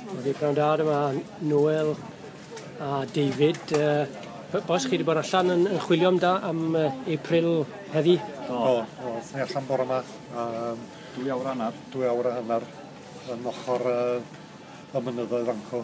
Wedi pnawn da yma, Noel a David. Uh, boes chi wedi bod allan yn, yn chwilio am da am uh, April heddi? Do, do. do. Ni allan bore yma. Um, dwy awr hanner. Dwy awr hanner yn ochr uh, y mynyddoedd anco.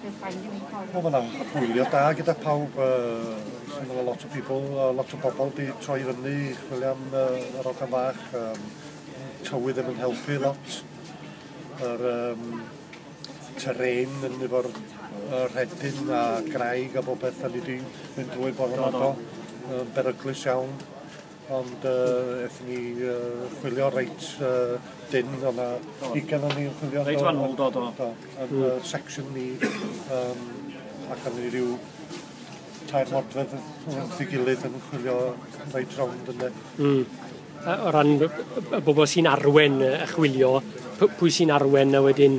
Wel, mae'n am hwyliau da gyda pawb. Uh, a lot o people, uh, lot o bobl di troi fyny, chwilio am uh, yr ochr fach. Um, tywydd ddim yn helpu lot. Yr um, terrain yn efo'r uh, rhedyn a graig a bobeth, da ni di mynd drwy bore yma do. Um, beryglus iawn. Ond uh, ethon ni uh, chwilio reit uh, dyn, o na ugen o'n ni'n chwilio. Reit fan ôl, do, do. do. Yn mm. uh, section ni, um, ac o'n ni rhyw tair modfedd wrth ei gilydd yn chwilio reit rownd yna. Mm. O ran y bobl sy'n arwen y chwilio, pwy sy'n arwen a wedyn